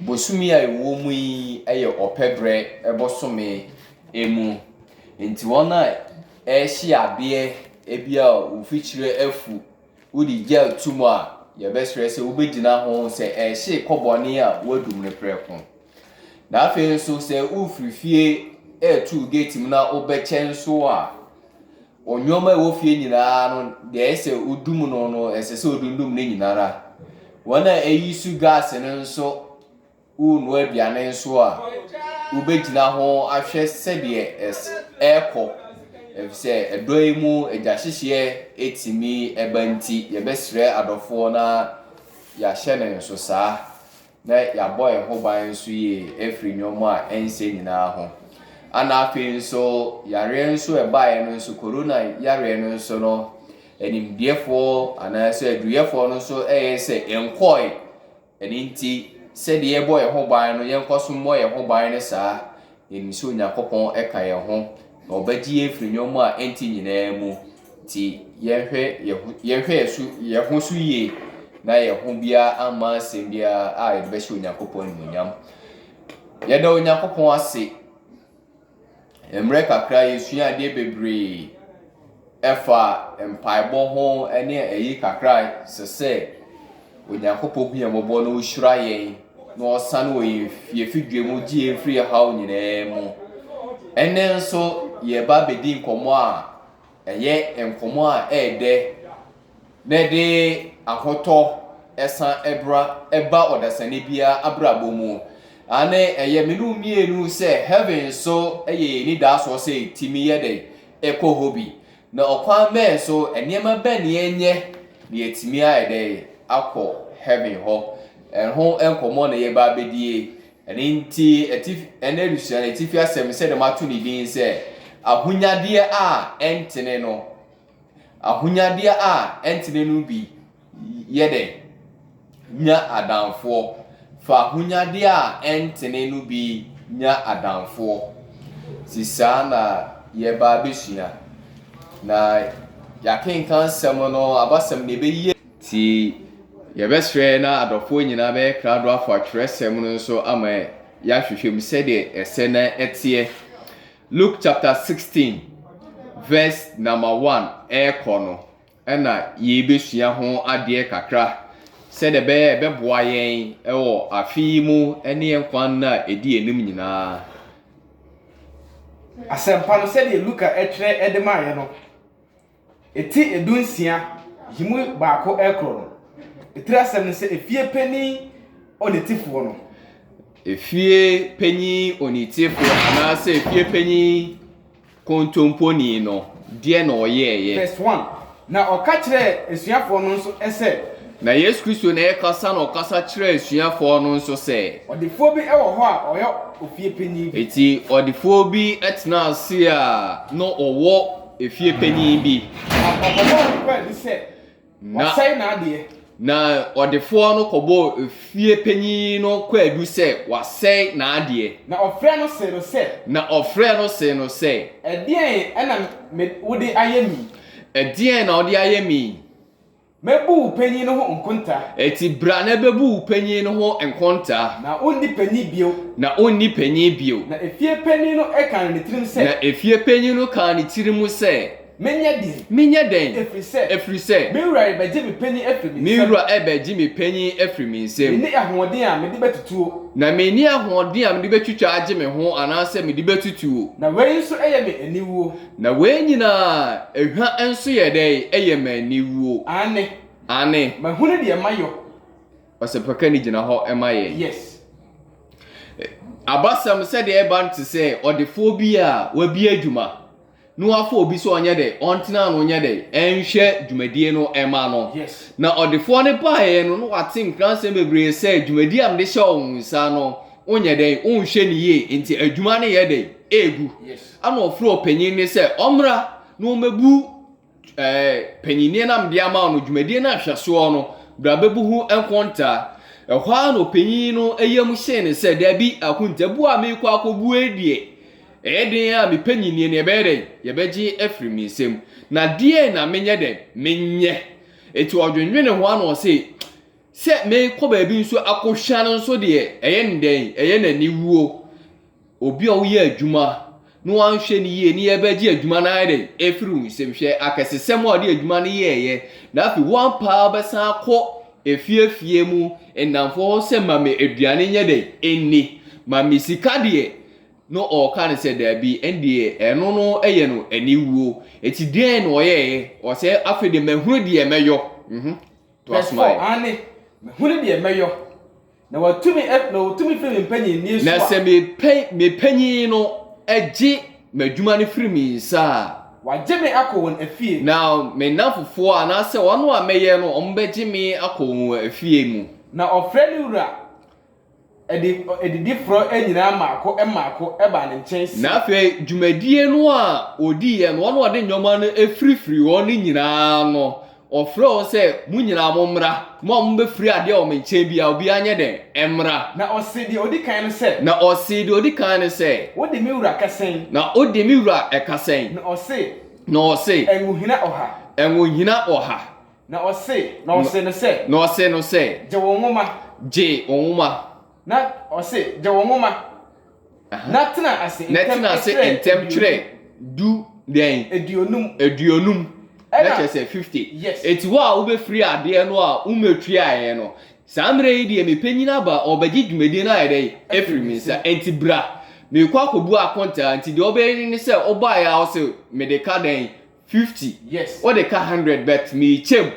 Bosome a yɛwɔ mu yi yɛ ɔpɛ berɛ bosome mu, nti wɔn a ɛrehye adeɛ ebi a mfikyire afu, wode gel to mu a, yɛbɛsrɛ sɛ wobɛgyina ho sɛ ɛrehye kɔ bɔne a woadum no prɛko. Na afei nso sɛ wofiri fie retu gate mu na wobɛkyɛ nso a, Nnoɔma a ɛwɔ fie nyina ara no, deɛ ɛyɛ sɛ wodum no no, ɛsɛ sɛ wodundum ne nyina ara. Wɔn a ɛyi su gaase no nso wonoa aduane nso a, wobɛgyina ho ahwɛ sɛdeɛ ɛrekɔ. Ɛfiri sɛ ɛdɔ yi mu agyahyehyeɛ tumi ba nti, yɛbɛsrɛ adɔfoɔ na yɛahyɛ no nso saa. na yɛabɔ yɛn ho ban nso yie afiri nneɛma a ɛnsɛ nyinaa ho. Ɛna afei nso, yareɛ nso ɛbaeɛ no nso, korona yareɛ no nso no, animdeɛfoɔ anaasɛ aduyɛfoɔ no nso ɛyɛ sɛ ɛnkɔɔe. Ɛno nti, sɛdeɛ yɛbɔ yɛn ho ban no, yɛnkɔ so mmɔ yɛn ho ban no saa. Yɛnim sɛ Onyankopɔn ka yɛn ho na ɔbɛgye yɛn afiri nneɛma a ɛnte nyinaa mu. Nti yɛnhwɛ yɛn ho yɛnhwɛ yɛn so yɛn ho so yie na yɛn ho biara amma asɛm biara a yɛde bɛhyɛ Onyankopɔn animuonyam. Yɛda Onyankopɔn ase. Mmerɛ kakra yɛsua adeɛ bebree. Ɛfa mpaebɔ ho ne ayi kakra a ɛsɛ sɛ Onyankopɔn hu yɛn mmɔbɔ na ɔhyira yɛn na ɔsane wɔ yɛn fie fidua mu gye yɛn firi haw nyinaa mu. Ɛnɛ nso yɛba bɛdi nkɔmmɔ a ɛyɛ nkɔmmɔ a ɛɛdɛ na ɛde ahotɔ ɛsa ɛbra ɛba ɔdasani biara abrabɔ mu. Ane ɛyɛ me ne wo mmienu sɛ heaven nso ɛyɛ yɛn nidaasoɔ sɛ ɛtumi yɛ dɛ kɔ hɔ bi, na ɔkwan bɛn so, nneɛma bɛn na yɛnyɛ na yɛatumi ayɛ dɛ akɔ heaven hɔ. Ɛho nkɔmmɔ na yɛba abɛdie. Ɛno nti atifi, ɛnɛ adesua no atifi asɛm sɛdeɛ mato ne din sɛ, ahonyadeɛ a ɛntene no. Ahonyadeɛ a ɛntene no bi Yɛ dɛn nya adamfoɔ? Fa ahonyadeɛ a ɛntene no bi nya adamfoɔ. Nti saa na yɛreba abɛsua. Na yɛakenkan asɛm no, abasɛm na ɛbɛyi yɛn. Nti yɛbɛsrɛ na adɔfoɔ nyinaa bɛyɛ krado afa twerɛsɛm no nso ama yɛahwehwɛ mu sɛdeɛ ɛsɛ na ɛteɛ. Luke chapter 16 verse number 1 ɛrekɔ no, na yeebesua ho adeɛ kakra sɛdeɛ ɛbɛyɛ a ɛbɛboa yɛn wɔ afe yi mu ne yɛn nkwa nna a ɛdi anim nyinaa. Asɛmpa no sɛdeɛ Luka twerɛ de maeɛ no, eti edu nsia, yi mu baako rekorɔ no. Etiri asɛm ne sɛ efie panin onitefoɔ no. Efie panin onitefoɔ anaasɛ efie panin. Kontomponi no, deɛn na ɔyɛeɛ? Verse one, Na ɔka kyerɛɛ asuafoɔ no nso sɛ. Na Yesu Kristo na ɛrekasa na ɔkasa kyerɛɛ asuafoɔ no nso sɛ. Ɔdefoɔ bi wɔ hɔ a ɔyɛ ofie panin bi. Enti ɔdefoɔ bi tenaa ase a na ɔwɔ efie panin bi. Na ɔkɔbɔɔ ne paani sɛ. Na, na ɔdefoɔ no kɔbɔɔ efie panin no kwaadu sɛ wasɛe n'adeɛ. Na ɔfrɛɛ no see no sɛ. Na ɔfrɛɛ no see no sɛ. Ɛdeɛn na me, wode ayɛ me yi? Ɛdeɛn na wode ayɛ me yi? Mɛbu wo panin no ho nkontaa. Enti bra na bɛbu wo panin no ho nkontaa. Na wonni panin bio. Na wonni panin bio. Na efie panin no kaa ne tirim sɛ. Na efie panin no kaa ne tirim sɛ. Menyɛ dɛn? Menyɛ dɛn? Ɛfiri sɛ. Ɛfiri sɛ. Me wura rebɛgye me panin afiri me nsam. Me wura rebɛgye me panin afiri me nsam. Menni ahoɔden a mede bɛtutuo. Na menni ahoɔden a mede bɛtwitwa agye me ho anaasɛ mede bɛtutuo. Na wei nso yɛ me aniwuo. Na wei nyinaa, ehwa nso yɛ dɛn? Ɛyɛ me aniwuo. Aane. Aane. Mahunu deɛ mayɔ. Ɔsɛmpakani gyina hɔ ma yɛn. Yes. Abasɛm sɛdeɛ ɛba no te sɛ ɔdefoɔ bi a wabue adwuma. na wafa obi sɛ ɔnyɛ dɛ ɔntena no nyɛ dɛ ɛnhwɛ dwumadie no ɛma no na ɔdefoɔ no baeɛ no na wate nkransɛm bebree sɛ dwumadie a mede hyɛ wo nsa no wonyɛ dɛ wonhwɛ no yie nti adwuma no yɛ dɛ ɛgu ana ɔfrɛ ɔpanyin no sɛ ɔmmra na ɔmmɛbu eh, panyinie na mede ama wo no dwumadie no nhwɛsoɔ no bra bɛbu ho nkontaa. Ɛhɔ ara na ɔpanyin no yam hyee no sɛ, Dabi, akontabuo a merekɔ akɔbue yi deɛ, ɛyɛ den a me panyinie no yɛbɛyɛ dɛn? Yɛbɛgye afiri me nsam. Na deɛn na menyɛ dɛn? Menyɛ. Enti ɔdwennwene ho ara na ɔse, Sɛ mekɔ baabi nso akɔhwa no nso deɛ, ɛyɛ no dɛn? Ɛyɛ no aniwuo. Obi a woyɛ adwuma na wanhwɛ no yie ne yɛbɛgye adwuma no ayɛ dɛn afiri wo nsam hwɛ akɛsesɛm a ɔde adwuma no yɛɛyɛ na afei woampa a wobɛsan akɔ efiefie mu nnamfoɔ hɔ sɛ ma me aduane nyɛ dɛn ɛnni ma me sika deɛ no ɔka no sɛ daabi ɛndeɛ ɛno no yɛ no aniwuo ɛti deɛn na ɔyɛɛyɛ ɔsɛ afei deɛ mahunu deɛ mɛyɔ mhm to asomaeɛ. Verse 4 Aane, mahunu deɛ mɛyɔ. Na watumi na ɔtumi firi me mpanyinnie so a. Na sɛ me panyin no gye m'adwuma no firi me nsa a. Wagye me akɔ wɔn afie. Na me nnamfofoɔ anaasɛ wɔn a mɛyɛ no wɔbɛgye me akɔ wɔn afie mu. Na ɔfrɛ ne wura adidifoɔ nyinaa mmaako mmaako baa ne nkyɛn se. Na afei dwumadie no a ɔdiiɛ no, wɔn a wɔde nneɛma no firifirii hɔ no nyinaa no, Ɔfrɛɛ wɔn sɛ, Mo nyinaa mommra, mo a mobɛfiri adeɛ wɔ me nkyɛn biara, obiara nyɛ dɛn? Ɛmmra. Na ɔsee deɛ ɔdi kan no sɛ. Na ɔsee deɛ ɔdi kan no sɛ. Wode me wura ka sɛn? Na wode me wura ka sɛn? Na ɔse. Na ɔse. Ɛnwohina ɔha. Ɛnwohina ɔha. Na ɔse, na ɔsee no sɛ. Na ɔsee no sɛ. Gye wo nwoma. Gye wo nwoma. Na ɔse, Gye wo nwoma, na tena ase ntɛm twerɛ. Na tena ase ntɛm twerɛ du dɛn? Aduonum. Aduonum. Na kyerɛ sɛ 50. Yes. Eti wo a wobɛfiri adeɛ no a wommɛtuaeɛ no, saa mmerɛ yi deɛ me panyin aba, ɔrebɛgye dwumadie no ayɛ dɛn? Afiri me nsa. Enti bra, merekɔ akɔbu akontaa. Enti deɛ ɔbɛyɛ no ne sɛ, ɔbaeɛ a ɔse, Mede ka dɛn? fifty yes wode ka hundred but mekyɛm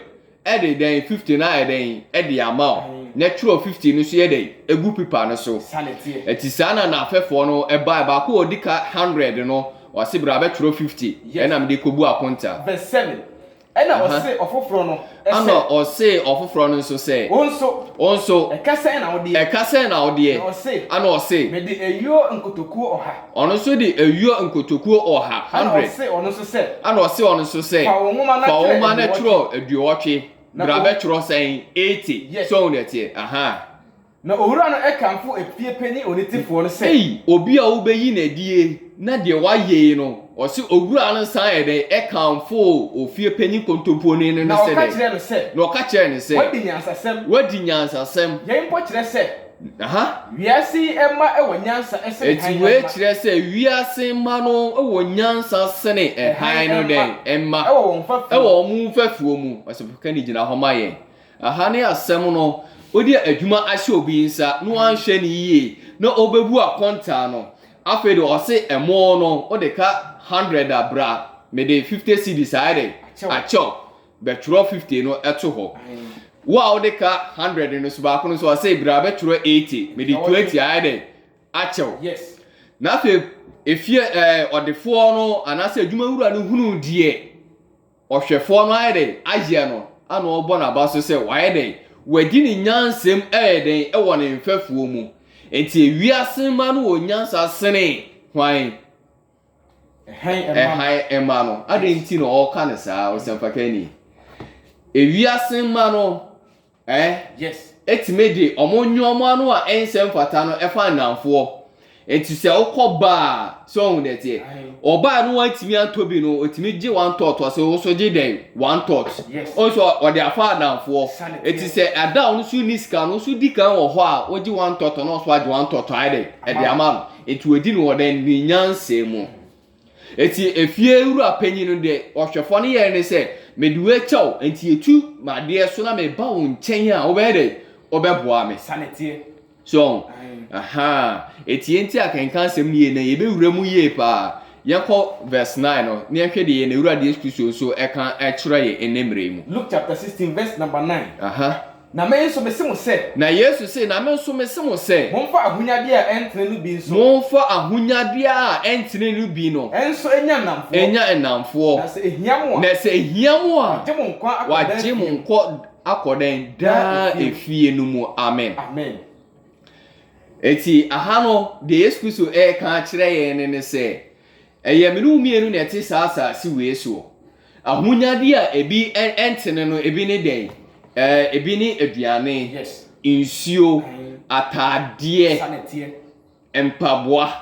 ɛde dɛn fifty no ayɛ dɛn ɛde ama o na twerɛ fifty no so yɛ dɛn egu pipa no so ɛti saa na n'afɛfoɔ no ɛba baako ɔdi ka hundred no ɔse bra bɛtwerɛ fifty ɛna mede kɔbu akonta verse seven ɛna ɔse ɔfoforɔ no. Ɛna ɔsee ɔfoforɔ no nso sɛ, Wo nso, wo nso, ɛka sɛn na wodeɛ? ɛka sɛn na wodeɛ? Na ɔse, Ɛna ɔse, Mede ayuo nkotokuo ɔha. ɔno nso de ayuo nkotokuo ɔha, Ɛna hundred, ɔse ɔno nso sɛ, ɛna ɔse ɔno nso sɛ, Fa wo nwoma na fa wo twerɛ nwoma na twerɛ aduɔwɔtwe, Na bra ɔm- bɛtwerɛ sɛn? eighty, Yes. so wo deɛ teɛ, ahaa. Na owura no kamfoo efie panyin onitefoɔ no sɛ. Ei, obi a wobɛyi no adie na deɛ wayɛ yi no, ɔse owura no san yɛ dɛn kamfoo ofie panyin kontomponi no sɛ dɛn? Na ɔka kyerɛɛ no sɛ. Na ɔka kyerɛɛ no sɛ. Woadi nyansasɛm. Woadi nyansasɛm. Yei mpo kyerɛ sɛ. Aha. Wiase yi mma wɔ nyansa sene hann mma. Enti wei kyerɛ sɛ wiase mma no wɔ nyansa sene hann no dɛn mma? Wɔ wɔn mfɛfoɔ mu. Wɔ wɔn mfɛfoɔ mu. Ɔsɛ bɛka ne gyina hɔ ma yɛn. Aha ne asɛm no, wode adwuma ahyɛ obi nsa na wanhwɛ no yie na ɔbɛbu akontaa no, afei de ɔse ɛmo no wode ka hundred a bra mede fifty cedis ayɛ dɛn? Akyɛw, bɛtwerɛ fifty no to hɔ, wo a wode ka hundred no so baako no nso ɔse bra bɛtwerɛ eighty mede twenty ayɛ dɛn? Akyɛw. Na afei efie ɛɛ ɔdefoɔ no anaasɛ adwuma wura no hunu deɛ Ɔhwɛfoɔ no ayɛ dɛn ayɛ no ana ɔrebɔ n'aba so sɛ wayɛ dɛn, wadi ne nyansam ɛyɛ dɛn wɔ ne mfɛfoɔ mu. Enti ewiase mma no wɔ nyansa sene hwan? Ɛhan mma no. Adɛn nti na ɔreka no saa, ɔsɛmpakani? Ewiase mma no Ɛɛ, Yes. ɛtumi de wɔn nnoɔma no a ɛnsɛ mfata no ɛfa nnamfoɔ. Nti sɛ wokɔ baa a, sɛ wohu deɛ ɛteɛ. Aye. Ɔbaa no wantumi antɔ bi no, ɔtumi gye one thought ɔse wo so gye dɛn? One thought. Yes. Wohu sɛ ɔde afa nnamfoɔ. Sane teɛ. Nti sɛ ɛda a wo nso nni sika no, wo nso di kan wɔ hɔ a wogye one thought na ɔnso agye one thought ayɛ dɛn? Ɛde ama no. Nti wɔdi no wɔ dɛn? Ne nyansa mu. Enti efie wura panyin no deɛ ɔhwɛfoɔ no yɛɛ ne sɛ, Mede wo akyɛ wo, enti yɛtu m'adeɛ so na meba wo nkyɛn a, wobɛyɛ dɛ? Wobɛboa me? Sane teɛ. So ɔho? Aha. Enti yɛn nti akenkan asɛm no yie na yɛbɛwura mu yie paa. Yɛnkɔ verse nine no na yɛnhwɛ deɛ yɛn Awurade Yesu Kristo nso ɛka kyerɛ yɛn ɛnnɛ mmerɛ yi mu. Luke chapter sixteen verse number nine. Aha. Na me nso mese mo sɛ. Na Yesu se, Na me nso mese mo sɛ. Momfa ahonyadeɛ a ɛntene no bi nso. Momfa ahonyadeɛ a ɛntene no bi no. Nso nya nnamfoɔ. Nya nnamfoɔ. Na sɛ ɛhia mo a. Na sɛ ɛhia mo a. Wɔagye mo nkwa akɔ daa efie mu. Wɔagye mo nkwa akɔ dɛn? Daa efie no mu. Amen. Amen. Enti aha no, deɛ Yesu Kristo reka akyerɛ yɛn ne sɛ, ɛyɛ me ne wo mmienu na ɛte saa asase wei soɔ. Ahonyade a ebi ntene no, ebi ne dɛn? Ɛɛ, ebi ne aduane, nsuo, ataadeɛ, mpaboa,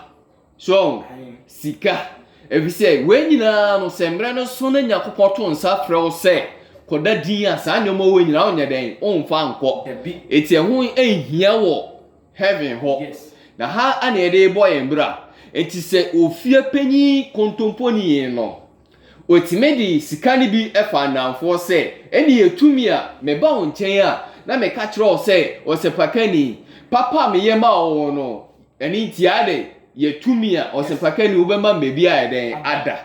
so sika. Efisɛ wei nyinaa no, sɛ mmerɛ no so na Nyankopɔn to nsa frɛ wo sɛ kɔda din a, saa nneɛma wei nyinaa wonyɛ dɛn? Womfa nkɔ. Enti ɛho nhia wɔ heaven hɔ. Na ha na yɛde rebɔ yɛn bra. Enti sɛ ofie panyin kontomponi no, Otumi de sika no bi faa nnamfoɔ sɛ, Ɛnneɛ yɛtumi a, meba wo nkyɛn a, na meka kyerɛ wo sɛ, ɔsɛpakani, papa a meyɛ ma wo no, ɛno nti ayɛ dɛn? Yɛtumi a, ɔsɛpakani, wobɛma me baabi ayɛ dɛn? Ada.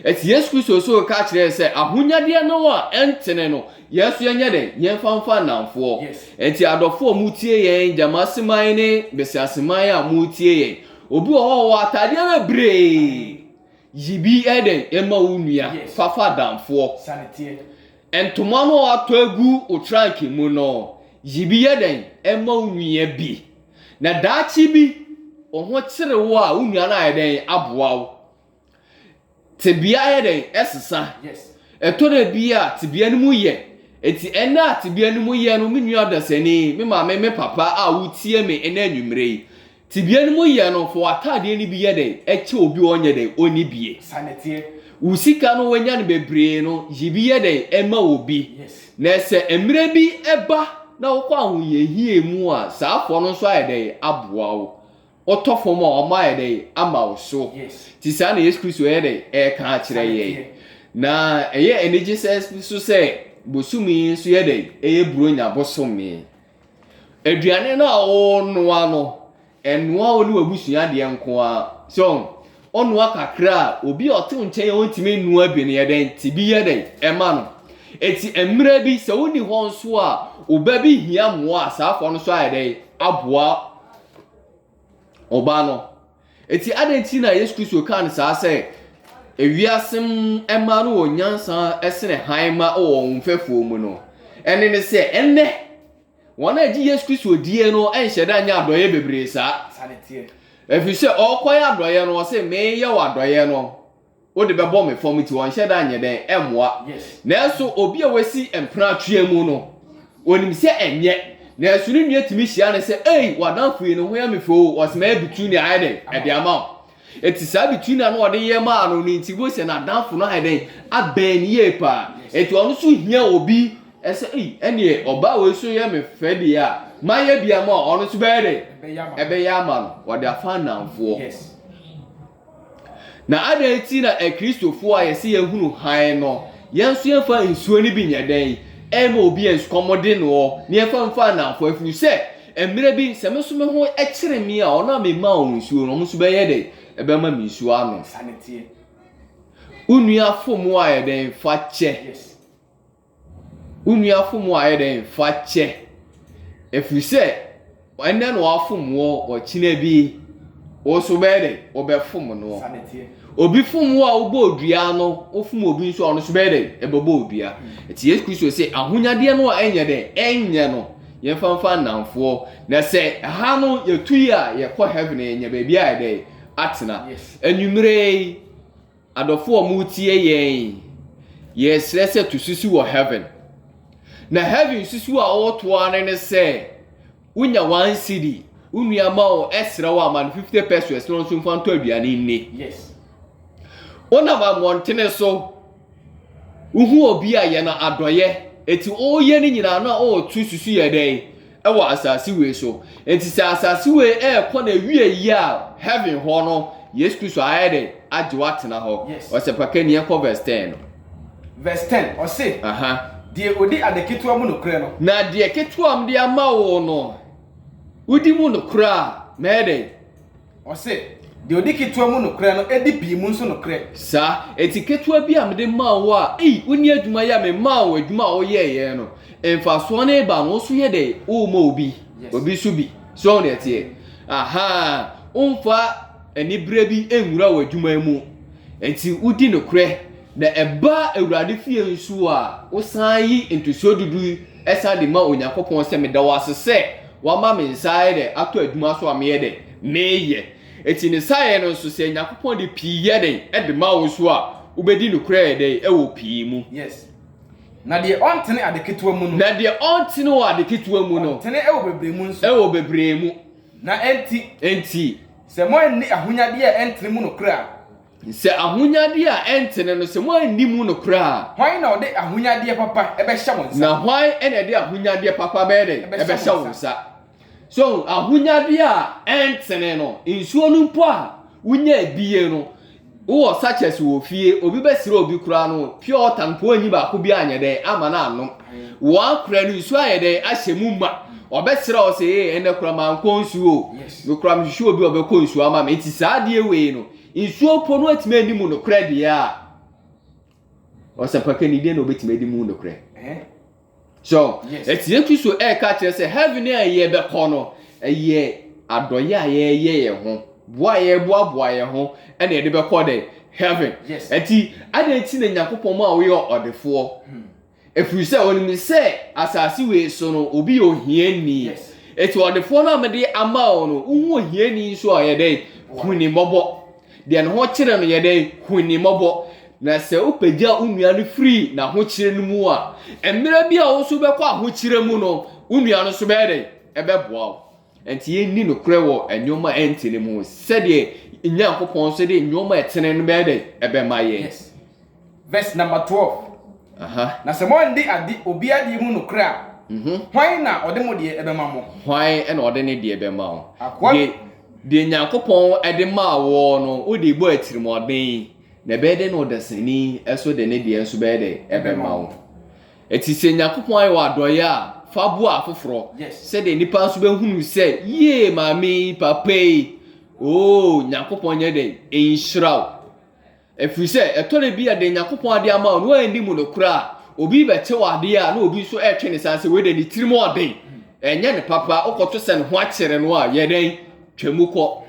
Ɛti Yesu Kristo nso reka akyerɛ yɛn sɛ, ahonyadeɛ no a ɛntene no, yɛn nso yɛnyɛ dɛn? Yɛmfa mfa nnamfoɔ. Ɛnti adɔfoɔ a motie yɛn, Gyamaseman ne Basiaseman a motie yɛn, obi wɔ hɔ a ɔwɔ ataadeɛ bebree, Yi bi yɛ dɛn ma wo nua, fafa adamfoɔ. Ntoma no a watɔ agu wo tranke mu no, yi bi yɛ dɛn ma wo nua bi. Na daakye bi, wo ho kyere wo a, wo nua no ayɛ dɛn aboa wo. Tebea yɛ dɛn ɛsesa. Ɛtɔ da bi a, tebea no mu yɛ. Eti ɛnɛ a tebea no mu yɛ no, me nua dasani, me maame, me papa a wotie me ɛnɛ anwummerɛ yi, Tebea no mu yɛ no, fa w'atadeɛ no bi yɛ dɛn? Ɛkyɛ obi a ɔnyɛ dɛn? Ɔnni bie. Saa na ɛteɛ. Wo sika no, woanya no bebree no, yi bi yɛ dɛn? Ɛma obi. Yes. Na sɛ mmerɛ bi ɛba na wokɔ ahohiahia mu a, saa fɔ no nso ayɛ dɛn? Aboa wo. Wotɔ fam a, ɔma ayɛ dɛn? Ama wo so. Yes. Nti saa na Yesu Kristo ɛyɛ dɛn? Ɛreka akyerɛ yɛn. Saa na ɛteɛ. Na ɛyɛ anigye sɛ nso sɛ bosome yi nso yɛ dɛn? Ɛyɛ Buronya bosome. Aduane no a ɔrenoa no, ɛnoa wo ne w'abusua deɛ nko ara. So, ɔnoa kakra a, obi a ɔte wo nkyɛn a ɔntumi nnoa bi no yɛ dɛn? Ti bi yɛ dɛn? Ɛma no. Eti mmerɛ bi, sɛ wonni hɔ nso a, wo ba bi hia mmoa a, saa akoa no nso ayɛ dɛn? Aboa. Ɔbaa no. Enti adɛn nti na Yesu Kristo kaa no saa sɛ ewiase mmaa no wɔ nyansa sene hann ma wɔ wɔn mfɛfoɔ mu no? Ɛne ne sɛ ɛnnɛ wɔn a ɛgye Yesu Kristo die no nhyɛ da nyɛ adɔeɛ bebree saa. Ɛfiri sɛ ɔrekɔyɛ adɔeɛ no ɔse meyɛ wɔ adɔeɛ no. wode bɛbɔ me fam nti ɔnhyɛ da nyɛ dɛn ɛmmoa nanso obi a wasi mpena atwea mu no onim sɛ ɛnyɛ nanso ne nua tumi hyia no sɛ ei wadanfo yi ne ho yɛ me fɛ o ɔsoma yɛ bitunia ayɛ dɛn ɛde ama wo ɛti saa bitunia no ɔde yɛ maa no no nti wo sɛ n'adanfo no ayɛ dɛn abɛn ne yie paa ɛti ɔno so hia obi ɛsɛ ei ɛneɛ ɔbaa wei so yɛ me fɛ deɛ a mayɛ bi ama ɔno so bɛyɛ dɛn ɛbɛyɛ ama no ɔde afa nnamfoɔ Na adɛn nti na Akristofo a yɛse yɛahunu hann no, yɛn nso yɛmfa nsuo no bi nyɛ dɛn? Ɛremma obi ansikɔmmɔden no ɔ, na yɛmfa mfa nnamfo, ɛfiri sɛ, mmerɛ bi, sɛ me nso me ho kyere me a, wɔn a memaa wɔn nsuo no, wɔn nso bɛyɛ dɛn? Ɛbɛma me nsuo anom. Wo nua fom wo a, yɛ dɛn? Fa kyɛ. Wo nua fom wo a, yɛ dɛn? Fa kyɛ, ɛfiri sɛ ɛnnɛ na wafom wo, ɔkyena bi wo nso wobɛyɛ dɛn? Wobɛfom no. Obi fom wo a, wobɔ odua no, wofom obi nso a, ɔno nso bɛyɛ dɛn? Ɛbɛbɔ odua. Ɛti Yesu Kristo sɛ ahonyadeɛ no a ɛnyɛ dɛn? Ɛnyɛ no. Yɛmfa mfa nnamfoɔ. Na sɛ ɛha no yɛtu yi a, yɛkɔ heaven, yɛnya baabi a yɛ dɛn? Atena. Anwummerɛ yi. Adɔfo a wɔretie yɛn, yɛsrɛ sɛ to susu wɔ heaven. Na heaven susu a ɔreto ara ne ne sɛ, wonya one cedi, wo nua ma wo, ɛsrɛ wo a, ma no 50 pesos na ɔno nso mfa ntɔ aduane nni. Yes. Wonam ammɔntene so, wohu obi a yɛn adɔeɛ, eti ɔreyɛ ne nyinaa no a ɔreto susu yɛ dɛn? wɔ asase wei so. Enti sɛ asase wei ɛrekɔ n'awieɛ yi a, heaven hɔ no, Yesu Kristo ayɛ dɛn? Agye wo atena hɔ. Yes. Ɔsɛ pa kani yɛnkɔ verse 10 no. Verse 10, ɔse, Aha. Deɛ ɔdi ade ketewa mu nokorɛ no. Na deɛ ketewa a mede ama wo no, wodi mu nokorɛ a, mɛyɛ dɛn? Ɔse, Deɛ ɔdi ketewa mu nokorɛ no di pii mu nso nokorɛ. Saa, enti ketewa bi a mede maa wo a, ei, wonni adwuma yɛ a memaa wo adwuma a woyɛeɛ no, mfasoɔ no reba no, wo nso yɛ dɛn? Worema obi, obi nso bi. So woahu deɛ ɛteɛ? Ahaa, womfa aniberɛ bi nwura w'adwuma mu, enti wodi nokorɛ. Na ɛba Awurade fie nso a, wosan yi ntosoɔ dudu yi san de ma Onyankopɔn sɛ, Meda wo ase sɛ woama me nsa ayɛ dɛ atɔ adwuma so a meyɛ dɛ meyɛ. Enti ne saeɛ no nso, sɛ Nyankopɔn de pii yɛ dɛn de ma wo nso a, wobɛdi nokorɛ yɛ dɛn wɔ pii mu. Yes. Na deɛ ɔntene ade ketewa mu no. Na deɛ ɔntene wɔ ade ketewa mu no. Ɔntene wɔ bebree mu nso. Wɔ bebree mu. Na enti. Enti. Sɛ moanni ahonyadeɛ a ɛntene mu nokorɛ a. Sɛ ahonyadeɛ a ɛntene no, sɛ moanni mu nokorɛ a. Hwan na ɔde ahonyadeɛ papa bɛhyɛ wo nsa? Na hwan na ɛde ahonyadeɛ papa bɛyɛ dɛn? Ɛbɛhyɛ wo nsa. So ahu? Ahonyadeɛ a ɛntene no, nsuo no mpo a wonya abie no, wowɔ sachets wɔ fie, obi bɛsrɛ obi koraa no, pure water no mpo wanyi baako biara anyɛ dɛn? Amma no annom. Woakora no, nsuo ayɛ dɛn? Ahyɛ mu ma. Ɔbɛsrɛ wo sɛ, ee, ɛnnɛ koraa mankɔ nsuo o. Yes. Me koraa mehwehwɛ obi a ɔbɛkɔ nsuo ama me. Nti saa adeɛ wei no, Nsuo mpo no atumi ani mu nokorɛ deɛ a, ɔsɛmpaka ni deɛ na ɔbɛtumi adi mu nokorɛ. So, ɛti yɛtu so ɛreka kyerɛ sɛ heaven a yɛbɛkɔ no, ɛyɛ adɔyɛ a yɛyɛ yɛn ho, boa a yɛboaboa yɛn ho, ɛna yɛde bɛkɔ dɛ heaven. Ɛti, adɛn ti na Nyankopɔn ma woyɛ ɔdefoɔ? Hmm. Ɛfiri sɛ ɔnim sɛ asase wei so no obi yɛ ohiani. Eti ɔdefoɔ no a mede ama wo no, wohu ohiani nso a yɛ dɛn? Hu ne mmɔbɔ. Deɛ ne ho kyere no yɛ dɛn? Hu ne mmɔbɔ. Na sɛ wopagya wo nua no firi n'ahokyere no mu a, mmerɛ bi a wo nso wobɛkɔ ahokyerɛ mu no, wo nua no nso bɛyɛ dɛn? Ɛbɛboa wo. Enti yenni nokorɛ wɔ nneɛma a ɛntene mu sɛdeɛ yɛn Nyankopɔn nso de nneɛma a ɛtene no bɛyɛ dɛn? Ɛbɛma yɛn. Yes. Verse number twelve. Aha. Na sɛ moannde ade obi adeɛ mu nokorɛ a, hwan na ɔde mo deɛ bɛma mo? Hwan na ɔde ne deɛ bɛma wo? Akoa bi. Deɛ, deɛ Nyankopɔn de maa woɔ no, wode bɔɔ atirimuɔden, na ɛbɛyɛ dɛn na ɔdasani nso de ne deɛ nso bɛyɛ dɛn? Ɛbɛma wo. Enti sɛ Nyankopɔn ayɛ wo adɔeɛ a, fa boa afoforɔ, sɛdeɛ nnipa nso bɛhunu sɛ, yie, maame yi, papa yi, oo, Nyankopɔn nyɛ dɛn? Nhyira wo. Ɛfiri sɛ, ɛtɔ da bi a deɛ Nyankopɔn ade ama wo no, woanni mu nokorɛ a, obi bɛkyɛ wo adeɛ a na obi nso retwe ne sane sɛ, wei deɛ ne tirim yɛ ɔden, ɛnyɛ no papa, wokɔto sɛ ne ho akyere no a, yɛ dɛn? Twa mu kɔ.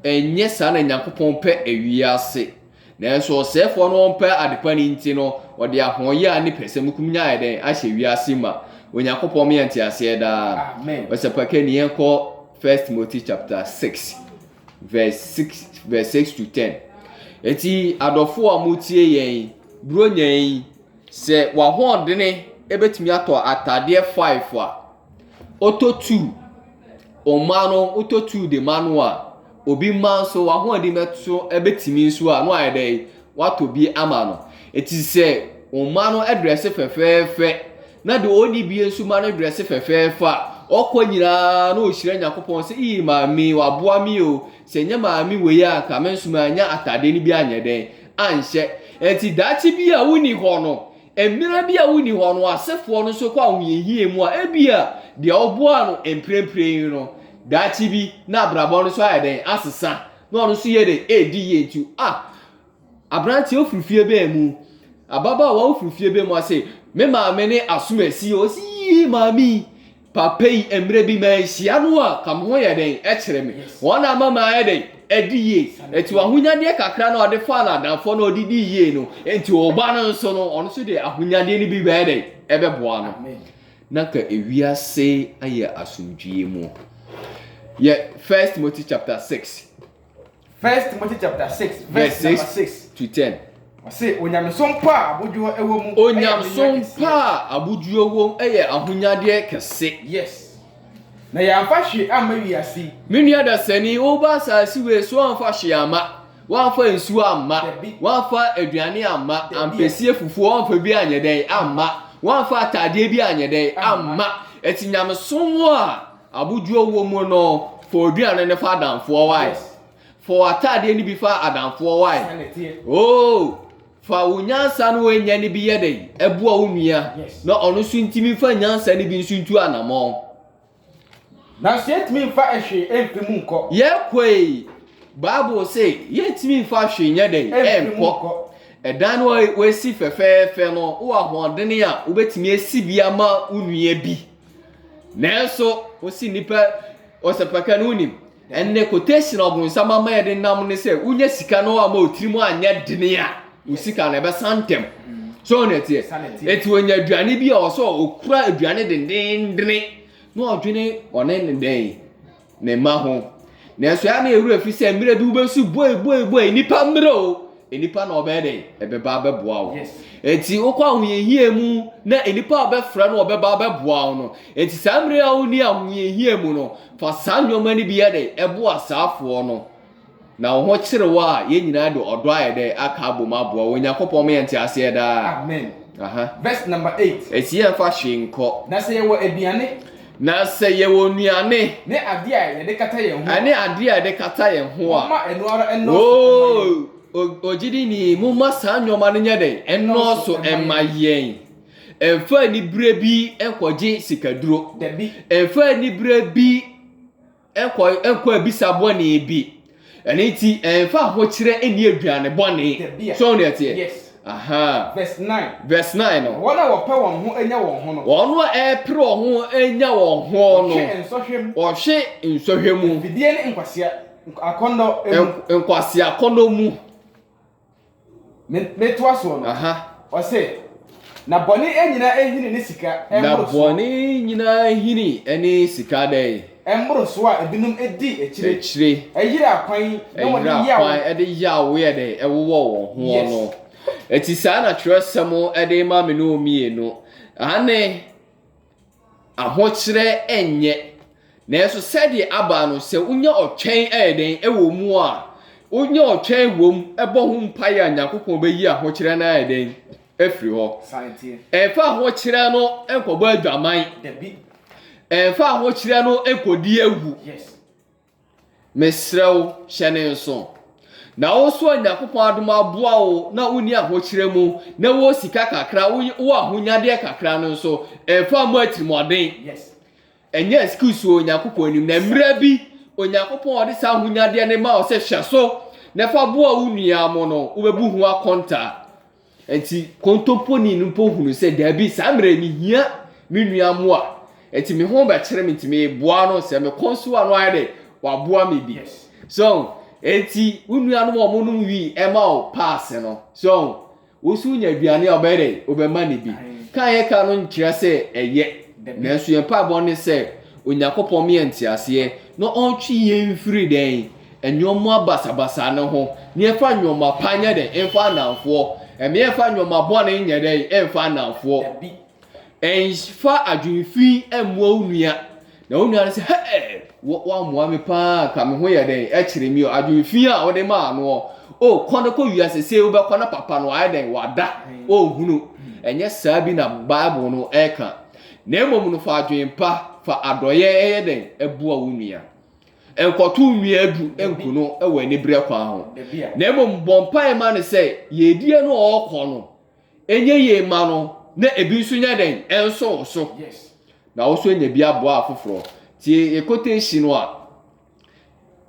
Ɛnyɛ saa na Nyankopɔn pɛ ewiase. Nanso ɔsɛefoɔ no ɔmpɛ adepa no nti no, ɔde ahoɔyaa ne pɛsɛmukomnya ayɛ dɛn? Ahyɛ wiase ma. Onyankopɔn ma yɛn nteaseɛ daa. Ɔsɛpɛka ni yɛn kɔ First Timothy chapter six verse six verse six to ten. Eti adɔfo a motie yɛn yi, buronya yi, sɛ wahoɔdene ebetumi atɔ ataadeɛ five a, ɔtɔ two, ɔma no, ɔtɔ two de ma no a, Obi mma nso w'ahoɔden bɛto bɛtumi nso a, na wayɛ dɛ watɔ bi ama no. Eti sɛ wo mma no drɛse fɛfɛɛfɛ na deɛ ɔnni bi nso ma no drɛse fɛfɛɛfɛ a, ɔkɔ nyinaa na ɔhyira Nyankopɔn sɛ, ii maame waboa me o, sɛ nyɛ maame wei a anka me nso manya atadeɛ no bi anyɛ dɛn anhyɛ. Enti daakye bi a wonni hɔ no, Mmere bi a wonni hɔ no, asefoɔ no nso kɔ ahohiahia mu a ebia deɛ ɔboaa no mprempren no, daakye bi na abrabɔ no nso ayɛ dɛn? Asesa, na ɔno nso yɛ dɛn? Ɛredi yie nti. A Aberanteɛ wofiri fie bɛn mu? Ababaawa wofiri fie bɛn mu? Ɔse, Me maame ne asomasi. Ɔse, Yii, maame yi. Papa yi mmerɛ bi manhyia no a ka me ho yɛ den kyerɛ me. Wɔn na ama mayɛ dɛn? Adi yie. Ɛti w'ahonyadeɛ kakra no a ɔde faa n'adamfoɔ no ɔde dii yie no, ɛnti wo ba no nso no, ɔno nso de ahonyadeɛ no bi bɛyɛ dɛn? Ɛbɛboa no. Na ka ewiase ayɛ asomdwie mu. Yɛ First Timothy chapter six. First Timothy chapter six verse number six to ten. Ɔse onyamesom pa a abodwoɔ ɛwɔ mu. Onyamesom pa a abodwoɔ wɔ mu ɛyɛ ahonyadeɛ kɛse. Yes. Na yɛamfa hwee amma wiase yi. Me nua dasani, woba asase wei so amfa hwee amma. Wamfa nsuo amma. Wamfa aduane amma. Ampesie fufuo wamfa bi anyɛ dɛn amma. Wamfa ataadeɛ bi anyɛ dɛn amma. Ɛti nyamesom a Abodwoɔ wɔ mu no, fa w'aduane no fa adamfoɔ wae. Fa w'ataadeɛ no bi fa adamfoɔ wae. Oo, fa wo nyansa no woanya no bi yɛ dɛn? Boa wo nua na ɔno nso ntumi mfa nyansa no bi nso ntu anammɔn. Nanso yɛntumi mfa hwee mfi mu nkɔ. Yɛkɔ yi, Bible se yɛntumi mfa hwee nyɛ dɛn? Nkɔ. Ɛdan no a woasi fɛfɛɛfɛ no, wowɔ ahoɔdene a wobɛtumi asi bi ama wo nua bi. Nanso ɔsi nnipa ɔsɛpɛka no wonim ɛnɛ quotation a ɔbonsam ama yɛde nam ne sɛ wonya sika no ama ɔtiri mu anyɛ dene a wo sika no ɛbɛsa ntɛm so ɔno ɛteɛ ɛti ɔnya aduane bi a ɔsɛ ɔkura aduane dendendene na ɔdwene ɔne ne dɛn Ne mma ho. Nanso ɛyɛ a na yɛn werɛ fi sɛ mmerɛ bi wobɛsu boi boi boi nnipa mmerɛ o, nnipa na wɔbɛyɛ dɛn? Ɛbɛba abɛboa wo. Enti wokɔ ahohiahia mu na nnipa a wɔbɛfrɛ no wɔbɛba abɛboa wo no. Enti saa mmerɛ a wonni ahohiahia mu no, fa saa nneɛma no bi yɛ dɛn? Boa saafoɔ no. Na wo ho kyere wo a, yɛn nyinaa de ɔdɔ a ɛdɛ aka abom aboa wo. Onyankopɔn ma yɛn nteaseɛ daa. Amen. Aha. Verse number eight. Esi yɛn fa hwee nkɔ. Na sɛ yɛwɔ aduane. Na sɛ yɛwɔ nnuane. Ne adeɛ a yɛde kata yɛn ho. Ɛne adeɛ a yɛde kata yɛn ho a. Moma ɛno ara ɛnɔɔso. Ogyidini, moma saa nneɛma no nyɛ dɛn? Ɛnɔɔso ɛma yɛn. Ɛnfa anibere bi nkɔgye sikaduro. Dabi. Ɛnfa anibere bi. Kɔ kɔ abisa bɔne bi. Ɛno nti ɛmfa ahokyerɛ nni aduane bɔne. Tebea. So ne ɛteɛ? Yes. Aha. Verse nine. Verse nine no. Wɔn a wɔpɛ wɔn ho nya wɔn ho no. Wɔn a ɛpere wɔn ho nya wɔn ho no. Wɔhwe nsɔhwɛ mu. Wɔhwe nsɔhwɛ mu. Mfidie ne nkwasea akɔnnɔ mu. Nk nkwaseakɔnnɔ mu. Me, metoa soɔ no. Aha. Ɔse, na bɔne nyina hini ne sika Na mmorosoɔ. bɔne nyina hini ne sika dɛn? Mmorosoɔ a ebinom di akyire, Akyire, yeraa kwan na wɔde ɛyera yea wɔn. kwan de yea woyɛ dɛn? Ɛwowɔ wɔn ho Yes. no. Ɛti saa na twerɛsɛm de ma me ne wo mmienu. Aane. ahokyerɛ nyɛ. Nanso sɛdeɛ aba no, sɛ wonya ɔtwɛn yɛ dɛn wɔ mu a, wonya ɔtwɛn wɔ mu bɔ ho mpaeɛ a, Nyankopɔn bɛyi ahokyerɛ no ayɛ dɛn? Afiri hɔ. Ɛmfa ahokyerɛ no nkɔbɔ adwaman. Ɛmfa ahokyerɛ no nkɔdi awu. Mesrɛ wo, hyɛ no nso. Na wo nso a Nyankopɔn adom aboa wo na wonni ahokyerɛ mu na wowɔ sika kakra, wowɔ ahonyadeɛ kakra no nso, mfa mmɔ atirimuɔden. Ɛnyɛ excuse wɔ Onyankopɔn anim. Na mmerɛ bi, Onyankopɔn a ɔde saa ahonyadeɛ no ma wo sɛ hwɛ so na fa boa wo nua mo no, wobɛbu ho akontaa. Enti kontomponi no mpo hunuu sɛ dabi, saa mmerɛ yi mehia me nua mmoa, enti me ho bɛkyere me nti meboa no, sɛ mekɔ nso a na wayɛ dɛ waboa me bi. So ɔho? Enti wo nuanom a wɔnom wii ɛma wo paase no, so ɔho? Wo nso wonya aduane a wobɛyɛ dɛ wobɛma no bi. Ka a yɛka no nkyerɛ sɛ ɛyɛ, nanso yɛn mpaebɔ ne sɛ Onyankopɔn ma yɛn nteaseɛ na ɔntwe yɛn mfiri dɛn? Nnoɔma basabasa no ho, neɛfa nnoɔma pa nyɛ dɛn mfa nnamfoɔ, neɛfa nnoɔma bɔne nyɛ dɛn mfa nnamfoɔ. Nfa adwene fi mmoa wo nua, na wo nua no sɛ, Hɛɛ! Wo, woammoa me paa, anka me ho yɛ dɛn, ɛkyere me o. Adwene fi a wode maa noɔ, o, kɔ na kɔ wia sesei wobɛkɔ na papa no wayɛ dɛn, wada, ɔnhunu. Ɛnyɛ saa bi na Bible no ɛka. Na mmom no fa adwene pa, fa adɔeɛ yɛ dɛn, boa wo nua. Nkɔtow nnua adu nku no wɔ anibereɛ kwan ho, na mmom bɔ mpaeɛ ma no sɛ yiedie no a ɔrekɔ no nyɛ yie mma no na ebi nso nyɛ dɛn nso wo so, na wo nso anya bi aboa afoforɔ. Nti yɛ quotation no a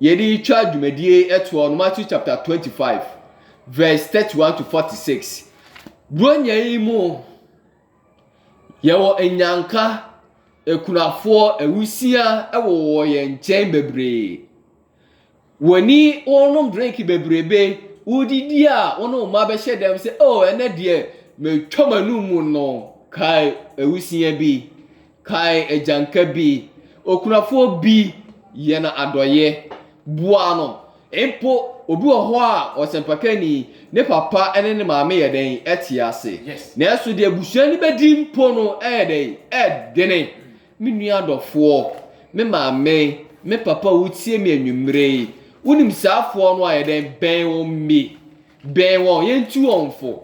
yɛde retwa dwumadie ɛtoɔ no, Matthew chapter 25 verse 31 to 46. Buronya yi mu Yɛwɔ nnyanka, akunafoɔ, awusiaa wowɔ yɛn nkyɛn bebree. Wɔn ani wɔrenom drink bebrebe, wodidi a wo ne wo mma bɛhyɛ dɛm sɛ oh ɛnɛ deɛ matwa m'anum no, kae awusiaa bi. Kae agyanka bi. Okunafoɔ bi yɛ no adɔeɛ. Boa no. Mpo obi wɔ hɔ a, ɔsɛmpakani, ne papa ne ne maame yɛ dɛn? Te ase. Nanso deɛ abusua no bɛdi mpo no yɛ dɛn? Ɛdene. Me nua adɔfoɔ, me maame, me papa a wotie me anwummerɛ yi, wonim saa afoɔ no a, yɛ dɛn? Bɛn wɔn bi. Bɛn wɔn. Yɛntu wɔn fo.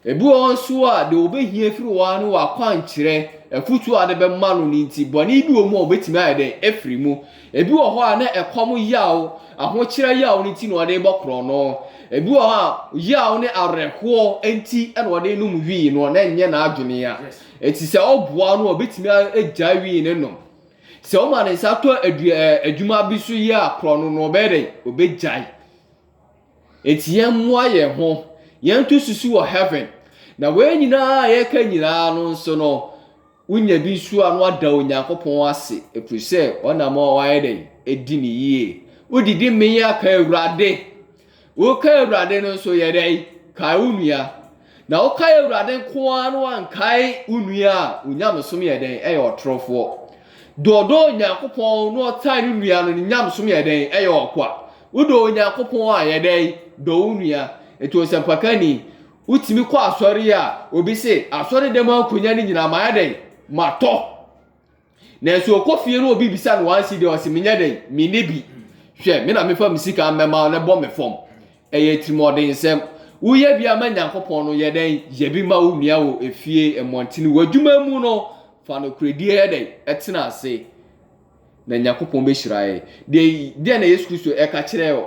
Ebi wɔ hɔ nso a, deɛ wɔbɛhia afiri hɔ ara ne w'akwankyerɛ, afutuo a wode bɛma no no nti, bɔne bi wɔ mu a ɔbɛtumi ayɛ dɛn? Afiri mu. Ebi wɔ hɔ a, na ɛkɔm yaw, ahokyerɛ yaw no nti na ɔde rebɔ korɔno. Ebi wɔ hɔ a, yaw ne awerɛhoɔ nti na ɔde renom wii no, na ɛnyɛ n'adwene a. Enti sɛ woboa no a, ɔbɛtumi agyae wii no nom. Sɛ woma ne nsa tɔ adua, adwuma bi so yɛ a, korɔno no, ɔbɛyɛ dɛn? Ɔbɛgyae. Enti yɛmmoa yɛn ho, yɛnto susu wɔ heaven. Na wei nyinaa a yɛreka nyinaa no nso no, wonya bi nso a na wada Onyankopɔn ase, ɛfiri sɛ ɔnam a wayɛ dɛn? Adi no yie. Wodidi mee a, ka Awurade. Woka Awurade no nso, yɛ dɛn? Kae wo nua. Na wokae Awurade nko ara na woankae wo nua a, wo nyamesom yɛ dɛn? Ɛyɛ ɔtorofoɔ. Deɛ ɔdɔ Onyankopɔn na ɔtan ne nua no, ne nyamesom yɛ dɛn? Ɛyɛ ɔkwa. Wodɔ Onyankopɔn a, yɛ dɛn? Dɔ wo nua. Nti ɔsɛmpaka ni, wotumi kɔ asɔre a, obi se, asɔre dɛm ankonya no nyinaa mayɛ dɛn? Matɔ. nanso ɔkɔ fie no obi bisa no wɔn si deɛ ɔsi menyɛ dɛn menni bi hwɛ me na mefa me sika mmɛma no bɔ me fam ɛyɛ tirimɔden nsɛm woyɛ bi ama nyankopɔn no yɛ dɛn yɛ bi ma wo nua wɔ efie mmɔntene wɔ adwuma mu no fa no koredie yɛ dɛn ɛtena ase na nyankopɔn bɛhyira yɛ deɛ deɛ na yesu kristo ɛka kyerɛ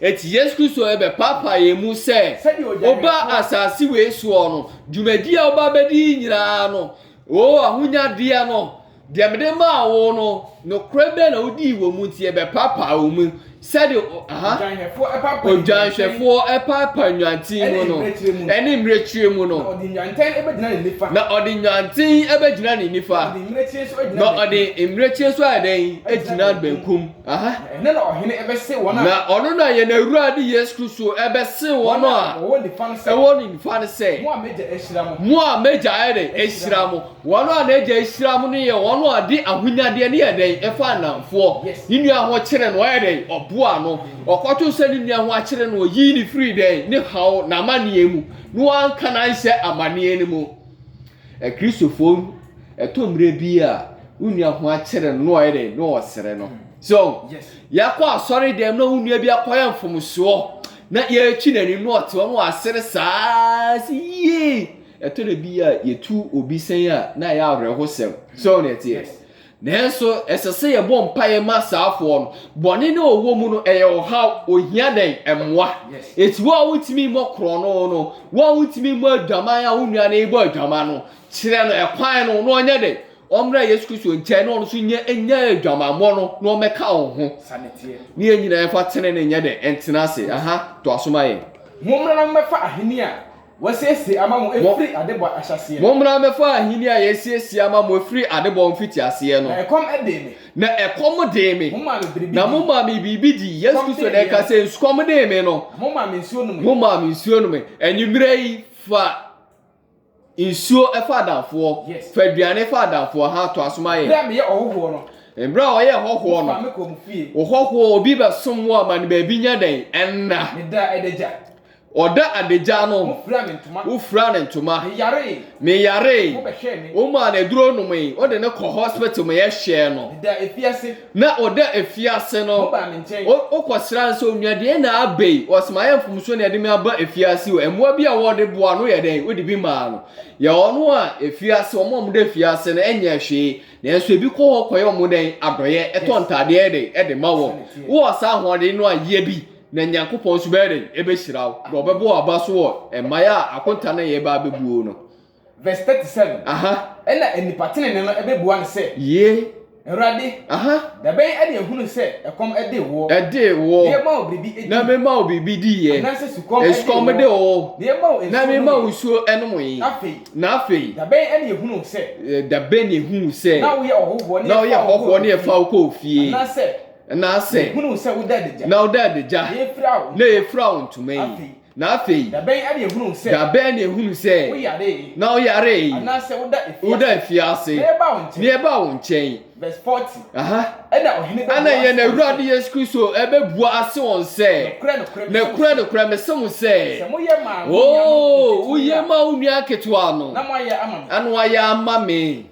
Enti Yesu Kristo rebɛpaapae yɛn mu sɛ ɔba asase wei soɔ no, dwumadie a ɔba bɛdi yi nyinaa no, o ahonyadeɛ no, deɛ mede maa wo no, nokorɛ bɛn na wodii wɔ mu nti ɛbɛpaapae wo mu sɛdeɛ odwanhwɛfoɔ paapae nnwanten mu no, ne mmirekyire mu no, na ɔde nnwanten bɛgyina ne nifa, na ɔde mmirekyire nso ayɛ dɛn? Agyina benkum. Na ɔno na yɛn Awurade Yesu Kristo ɛbɛse wɔn a ɛwɔ ne nifa no sɛ, mo a m'agya ayɛ dɛn ahyira mo. Wɔn a n'agya ahyira mo no yɛ wɔn a ɔde ahonyadeɛ ne yɛ dɛn ɛfa nnamfoɔ. Ne nua ho kyere no, ɔyɛ dɛn, ɔboa no. Ɔkɔto sɛ ne nua ho akyere no, ɔyii no firii dɛn, ne haw, n'amanneɛ mu, na wanka no anhyɛ amanneɛ no mu. Akristofoɔ no, ɛtɔ mmerɛ bi a, wo nua ho akyere no na ɔyɛ dɛ na ɔresere no. So, yɛkɔ asɔre dɛm na wo nua bi akɔyɛ mfomsoɔ na yɛretwi n'anim na ɔte hɔ na wasere saa sɛ yie. Ɛtɔ da bi a, yɛtu obi sɛn a, na ɛyɛ awerɛhosɛm. So ne ɛteɛ. Nanso ɛsɛ sɛ yɛbɔ mpaeɛ ma saa afoɔ no. Bɔne no a ɔwɔ mu no, ɛyɛ ɔhaw, ɔhia dɛn? Mmoa. Ɛti wo a wontumi mmɔ korɔno no, wo a wontumi mmɔ adwaman a wo nua no rebɔ adwaman no, kyerɛ no ɛkwan no na ɔnyɛ dɛn? Ɔmmra Yesu Kristo nkyɛn na ɔno nso nyɛ nya adwamammɔ no na ɔmmɛka wo ho. Ne yɛn nyinaa yɛmfa tenenee nyɛ dɛn? Ntena ase. Aha, toa so ma yɛn. Mommra na mommɛfa ahennie a Wɔasiesie ama mo firi adebɔ ahyɛaseɛ. Mommra mmɛfa ahennie a yɛasiesie ama mo firi adebɔ mfitiaseɛ no. Na ɛkɔm dee me. Na ɛkɔm dee me. Momaa me biribi dii. Na momaa me biribi dii. Yesu Kristo na ɛka sɛ, Sukɔm dee me no. Na momaa me nsuo nomee. Momaa me nsuo nomee. Anwummerɛ yi, fa nsuo fa adamfoɔ. Yes. Fa aduane fa adamfoɔ. Ahaa, toa so ma yɛn. Berɛ a meyɛ ɔhɔhoɔ no. Berɛ a ɔyɛ ɔhɔhoɔ no. Wofaa me kɔɔ mo fie. Ɔhɔhoɔ, obi bɛsom wo ama no baabi nyɛ dɛn? Nna. Medaa adagya. Ɔda adagya no, wofuraa ne ntoma. Meyaree. Womaa no aduro nomee. Wode no kɔ hospital ma yɛhwɛɛ no. Na ɔda afiase no, wokɔsra no sɛ onua deɛ na aba yi. Ɔsɛ mayɛ mfomsoɔ na ɛde me aba afiase o. Mmoa bi a wɔde boa no yɛ dɛn? Wode bi maa no. Yɛ ɔno a afiase, wɔn a wɔda afiase no nyɛ hwee. Nanso ebi kɔ hɔ kɔyɛ wɔn dɛn? Adɔeɛ. Ɛtɔ ntadeɛ de ma wɔn. Wowɔ saa ahoɔden no a, yɛ bi. Na Nyankopɔn nso bɛyɛ dɛn? Ɛbɛhyira wo, na ɔbɛbɔ wo aba so wɔ mmaeɛ a akonta no yɛɛba abɛbuo no. Verse thirty seven. Aha. Ɛna nnipa tenenee no ɛbɛbua no sɛ. Yie. Awurade. Aha. Dabɛn ɛde ahunu sɛ ɛkɔm ɛdee woɔ. Ɛdee woɔ. Na yɛma wo biribi ɛdii. Na mema wo biribi diiɛ. Anaasɛ sukɔm ɛdee woɔ. Sukɔm de wo. Na yɛma wo nsuo nom. Na mema wo nsuo ɛnom yɛ. Na afei. Na afei. Dabɛn ɛna yɛhunu wo sɛ. Dabɛn na yɛhunu wo sɛ. Na woyɛ ɔhɔhoɔ ne yɛfa wo kɔɔ fie. Anaasɛ. anaasɛ mehunuu sɛ woda adagya na woda adagya na yɛfira wo na yɛfira wo ntoma yi afei na afei da bɛn ɛde ehunu sɛ da bɛn na ehunu sɛ woyare na woyare anaasɛ woda efiase woda efiase na yɛba wo nkyɛn na yɛba wo nkyɛn verse forty aha ɛna ɔhene bɛ ɛna yɛn awurade yesu kristo ɛbɛbua ase wɔn sɛ nokura nokura mese mo sɛ sɛ moyɛ maa oo woyɛ maa wo nua ketewa no na moayɛ ama me ano ayɛ ama me.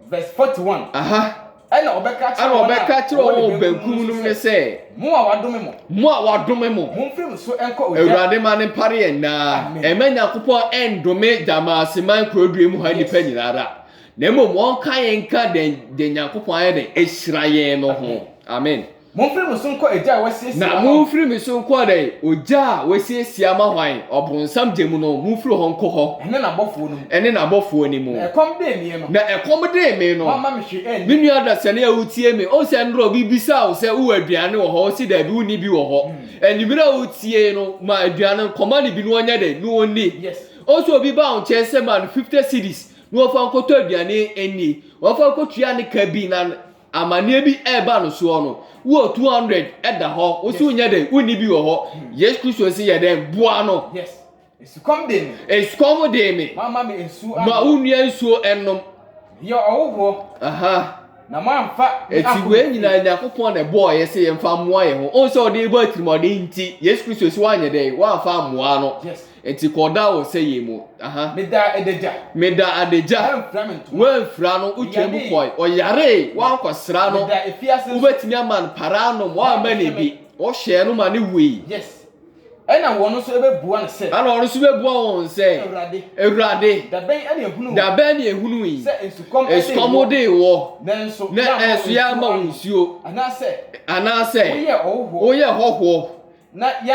Verse 41. Aha. Ɛna ɔbɛka kyerɛ wɔn a ɔbɛka kyerɛ wɔn wɔ benkum no ne sɛ. Mo a wadome mo. Mo a wadome mo. Mo mfiri mo so nkɔ ogya. Awurade ma ne mpare yɛn naa. Ɛmɛ Nyankopɔn ɛndome Gyamaseman kurodua mu ha nipa nyinaa da. Na mmom wɔn ka yɛn ka dɛn dɛn Nyankopɔn ayɛ dɛn ehyira yɛn no ho. Amen. Momfiri mo so nkɔ egya a wɔasiesie ama hwan? Na momfiri me so nkɔ dɛn? Ogya a wɔasiesie ama hwan? Ɔbonsam gya mu no, momfiri hɔ nkɔ hɔ. Ɛne n'abɔfoɔ no mu. Ɛne n'abɔfoɔ no mu. Na ɛkɔm dee meɛ no. Na ɛkɔm dee me no. Moamma me hwee anni. Me nua dasani a wotie me, wohu sɛ nnora obi bisaa wo sɛ wowɔ aduane wɔ hɔ, wose daabi wonni bi wɔ hɔ. Anwummere a wotie no, ma aduane no, kɔma no bi na ɔnyɛ dɛn? Na ɔnni. Wohu sɛ obi baa wo nkyɛn sɛ ma no fifty cedis na ɔmfa nkɔtɔ aduane nni, ɔmfa nkɔtua ne ka bi na Amaneɛ bi ɛreba no soɔ no, wowɔ 200 ɛda hɔ, wo so nyɛ dɛn, wonni bi wɔ hɔ. Hmm. Yesu Kristo se yɛ dɛn, boa no. Yes. Esukɔm de me. Esukɔm de me. Mama me nsuo anom. Ma wo nua nsuo ɛnom. Yɛ ɔwohoɔ. Aha. Na moamfa me akɔ. Eti wei nyinaa Nyankopɔn na ɛbɔɔ yɛ sɛ yɛmfa mmoa yɛn ho. Ɔn sɛ ɔde bɔ atirimɔden nti, Yesu Kristo se woanyɛ dɛn, woamfa mmoa no. Yes. Nti kɔ ɔda wɔ sɛ yɛ mu aha. Me da adagya. Me da adagya. Woanfira me ntoma. Woanfira no, wotwaa mu kɔe. Ɔyaree, woankɔsra no. Me da afiase nso. Wobɛtumi ama no para anom, woamma no bi. Wohyɛɛ no ma no wui. Yes. Ɛna wɔn nso bɛbua no sɛ. Ɛna wɔn nso bɛbua wɔn sɛ. Awurade. Awurade. Da bɛn na yɛhunuu wo. Da bɛn na yɛhunuu yi. Sɛ nsukɔm dee wo. Nsukɔm dee wo. Nanso yɛamma wo nsuo. Anaasɛ. Anaasɛ. Woyɛɛ ɔhɔhoɔ. Woyɛɛ ɔhɔhoɔ. Na yɛn.